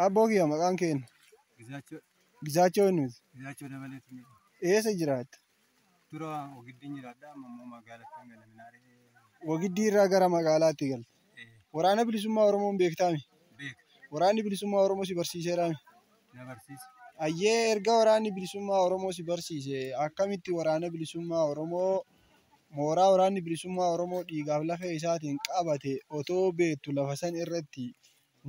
Abboo kiyya maqaan kee eenyu? Gizaachoo Gizaachoo eenyuuti? Gizaachoo dabalee isin jedhama. Eessa jiraatta? Dura ogiddiin jiraadha amma immoo magaalatti hanga laminaaree Wagiddii irraa gara magaalaatti galte. eh, Waraana bilisummaa Oromoon beektaami. beeka Waraanni bilisummaa Oromoo si barsiiseeraami. na barsiisa. Ayyee erga waraanni bilisummaa Oromoo si barsiise akkamitti waraana bilisummaa Oromoo mooraa waraanni bilisummaa Oromoo dhiigaaf lafee isaatiin qabate otoo beektu lafa san irratti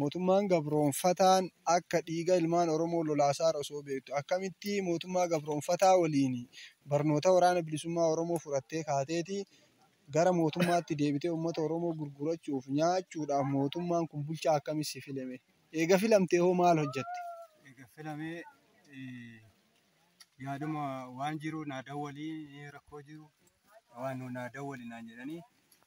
Mootummaan gabroomfataan akka dhiiga ilmaan Oromoo lolaasaar osoo beektu akkamitti mootummaa gabroomfataa waliin barnoota waraana bilisummaa Oromoo fudhattee kaateeti gara mootummaatti deebitee uummata Oromoo gurgurachuuf nyaachuudhaaf mootummaan kun bulchaa akkamii si file mee? Eega filamtee hoo maal hojjatte? Eega filamee yaaduma waan jiru naa dawwalii rakkoo jiru waan nu naa dawwali naan jedhanii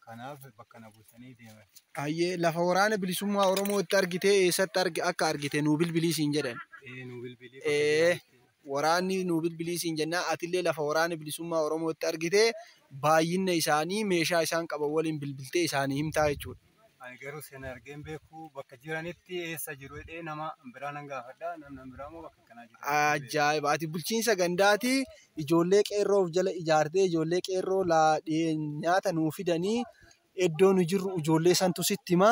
kanaaf bakka na buusanii deeman. Hayyee lafa waraana bilisummaa Oromoo itti argitee eessatti argi akka argite nuu bilbilii siin jedhan. Ee nu bilbilii bakka Ee jiranitti. waraanni nuu bilbilii siin jennaa atillee lafa waraana bilisummaa Oromoo itti argitee baay'inna isaanii meeshaa isaan qaban waliin bilbiltee isaanii himtaa jechuudha. Ani garuu sena argeen beeku bakka jiranitti eessa jiru jedhee nama biraa nan gaafadha namni biraa immoo bakka Ajaa'iba! Ati bulchiinsa gandaati ijoollee qeerroo of jala ijaartee ijoollee qeerroo nyaata nuu fidanii iddoo nu jirru ijoollee santu sitti hima.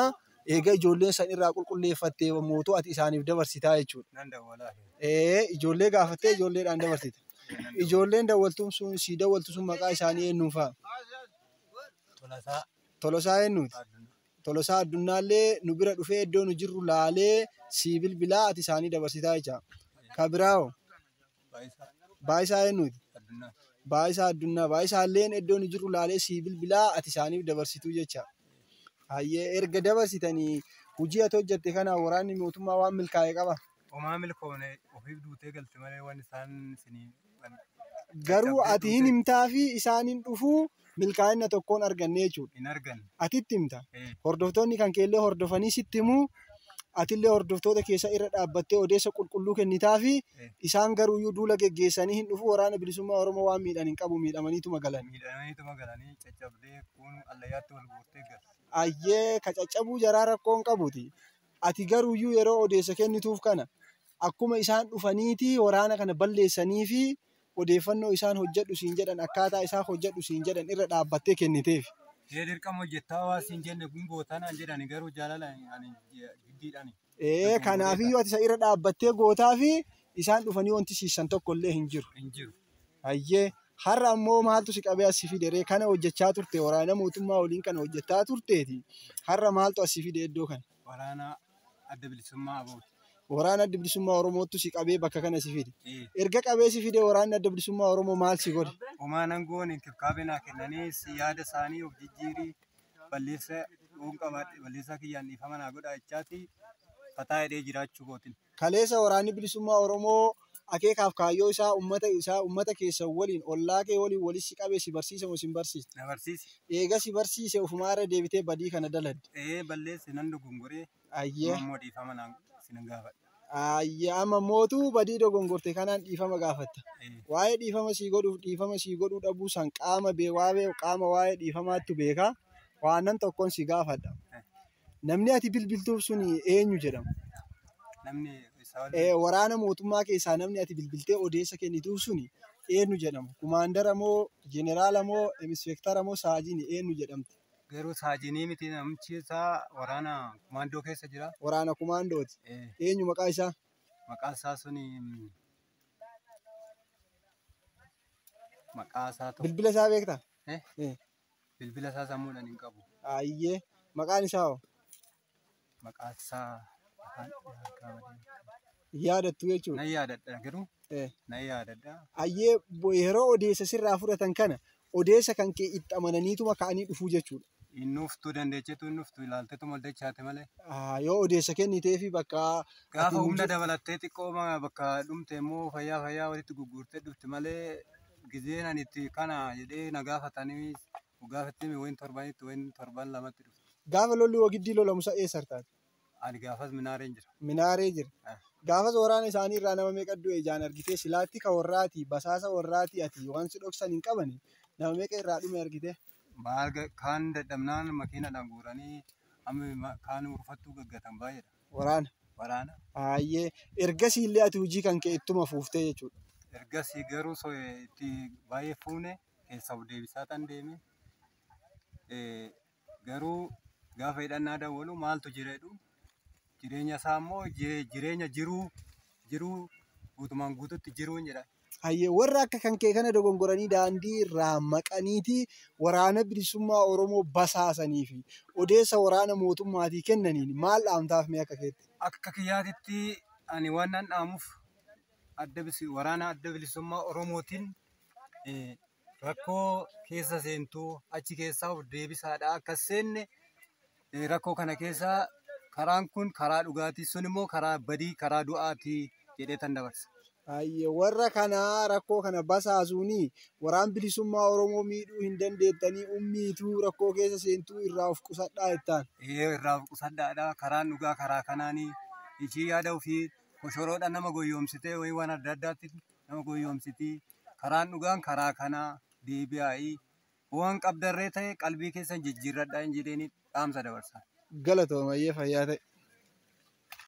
Egaa ijoollee sana irraa qulqulleeffattee mootu ati isaaniif dabarsitaa jechuudha. Nan dawwalaa. Ee ijoollee gaafattee ijoolleedhaan dabarsita. Ijoolleen dawwaltuun sun sii dawwaltu sun maqaa isaanii eenyuun fa'a? Tolasaa. Tolosaa eenyuuti? Tolosaa Addunnaallee nu bira dhufee iddoo nu jirru laalee sii bilbilaa ati isaanii dabarsitaa jecha. Ka biraa hoo? Baayisaa eennuuti? Baayisaa Addunnaa. Baayisaalleen iddoo nu jirru laalee sii bilbilaa ati isaaniif dabarsituu jecha. Hayyee erga dabarsitanii hojii ati hojjatte kanaan waraanni mootummaa waan milkaa'e qaba? Homaa milkoofne ofiif duutee galte malee waan isaan isinii waan Garuu caccabdee ati hin duute himtaafii isaan hin dhufuu milkaa'inna tokkoon arganne jechuudha. hin arganne. Ati itti himta. Ee. Hordoftoonni kan keellee hordofanii sitti himu. Atillee hordoftoota keessa irra dhaabbattee odeessa qulqulluu kennitaafi. Ee. Isaan garuuyyuu duula geggeessanii hin dhufu waraana bilisummaa Oromoo waan miidhan hin qabu miidhamaniituma galan. Miidhamaniituma galanii caccabdee kuun allayyaatti wal guurtee galte. Ayyee ka caccabuu jaraa rakkoo hin qabuti. Ati garuuyyuu yeroo odeessa kennituuf kana akkuma isaan dhufaniiti waraana kana balleessaniifi odeeffannoo isaan hojjedhu siin jedhan akkaataa isaa hojjedhu siin jedhan irra dhaabbattee kenniteef. Ee dirqama hojjettaa waan siin jenne hin goota naan jedhani garuu jaalala ani jiddiidhani. Ee kanaafiyyuu ati isa irra dhaabbattee gootaafi isaan dhufanii wanti siissan tokkollee hin jiru. Hin jiru. Hayyee har'a ammoo maaltu si qabee as si fide ree kana hojjechaa turte waraana mootummaa waliin kana hojjechaa turteeti har'a maaltu as si fide iddoo kana waraana adda bilisummaa abooti. waraana adda bilisummaa Oromoottu si qabee bakka kana si fide erga qabee si fide waraanni adda bilisummaa Oromoo maal si godhe Homaa nan goone inkibkaabee naa kennanii si yaada isaanii of jijjiirii balleessa yoon qabaadhe balleessaa kiyyaan dhiifama naa godhaa jechaati fataa hidhee jiraachuu kootin. Kaleessa Waraanni Bilisummaa Oromoo akeekaaf kaayyoo isaa ummata isaa, ummata keessan waliin, ollaa kee waliin walitti si qabee si barsiise moo sin barsiisne? Na barsiise. Eega si barsiise ufumaa irra deebitee badii kana daladde. Ee balleesse nan dogongore. Ayyee. Amma immoo dhiifama naan sinan gaafadha. Ayyee amma mootu badii dogongorte kanaan dhiifama gaafatta. Ee. Waa'ee dhiifama sii godhuuf dhiifama sii godhuu dhabuu san qaama bee waa'ee qaama waa'ee dhiifamaattu beeka. Waanan tokkon si gaafadha. Namni ati bilbiltuuf sun eenyu jedhama? Namni isaa waliin Eh, Waraana mootummaa keessaa namni ati bilbiltee odeessa kennituuf sun eenyu jedhama? Kumaandara moo, jeneraala moo, inispeektara moo, saajini eenyu jedhamti? garuu saajinii miti namichi isaa waraana kumaandoo keessa jira. Waraana kumaandooti. Eh, Eenyu maqaa isaa? maqaa isaa suni mm, maqaa isaa tokko. Bilbila isaa beektaa? Eh, Eh, Bilbila isaa sammuudhaan hin qabu. Ayyee. Maqaan isaa hoo? Maqaan isaa afaan harkaa badee. Hin yaadattu jechuudha. Nan yaadadha garuu Eh. nan yaadadha. Ayyee bo- yeroo odeessa sirraa fudhatan kana odeessa kan kee itti amananiituma ka'anii dhufuu jechuudha. Inni uftuu dandeechetu inni uftuu ilaaltetu moldachaate malee. Ah, Yoo odeessa kennitee fi bakka Gaafa ati humna hin- dabalattee xiqqoo ma- bakka dhumte immoo fayyaa fayyaa walitti gurguurtee dhufti malee gizeen ani itti kana jedhee na gaafatanii gaafattee wayin torbanitti wayin torban lamatti dhufte. Gaafa lolli Wogiddii lolamu sa eessa artaati? Ani gaafas Minaareen jira. Minaaree jira. Ah. Gaafas waraana isaanii irraa nama meeqa du'e ijaan argitee silaatti ka warraati basaasa warraati ati waan si dhoksan hin qabani nama meeqa irraa dhume argitee? Maal ga- kaan dadhabnaan makiinadhaan guuranii amma ma- kaan urfattuu gaggatan baay'eedha. Waraana. Waraana. Hayyee. Ergasii illee ati hojii kan kee ittuma fuuftee jechuudha. Ergasii garuu so- eh, itti baay'ee fuune keessa of deebisaa tan deeme. Eh, Garuu gaafa hidhannaa dawwalu maaltu jira jedhu jireenya isaa immoo jire- jireenya jiruu jiruu guutumaan guututti jiruun jedha. Hayyee warra akka kan kee kana dogongoranii daandii irraa maqaniitii waraana bilisummaa Oromoo basaasanii fi odeessa waraana mootummaatii kennaniin maal dhaamtaaf mee akka keetti? Akka kiyyaatitti ani waan nan dhaamuuf adda bisi waraana adda bilisummaa Oromootiin eh, rakkoo keessa seentuu achi keessaa of deebisaadha akkas seenne eh, rakkoo kana keessa karaan kun karaa dhugaatii sun immoo karaa badii karaa du'aatii jedhee tan dabarsa. Baay'ee warra kanaa rakkoo kana basaasuuni waraan bilisummaa Oromoo miidhuu hin dandeettanii ummiituu rakkoo keessa seentuu irraa of qusadhaa jettaan. Ee irraa of qusadhaadha karaan dhugaa karaa kanaanii ishii yaada ofii koshoroodha nama goyyoomsitee wayii waan adda addaatti nama goyyoomsiti. Karaan dhugaan karaa kana deebi'aa'i. Hoo waan qabdarree ta'e qalbii keessan jijjiirradhaa'iin jedheenii dhaamsa dabarsa. Galatoomi hayyee fayyaa ta'i.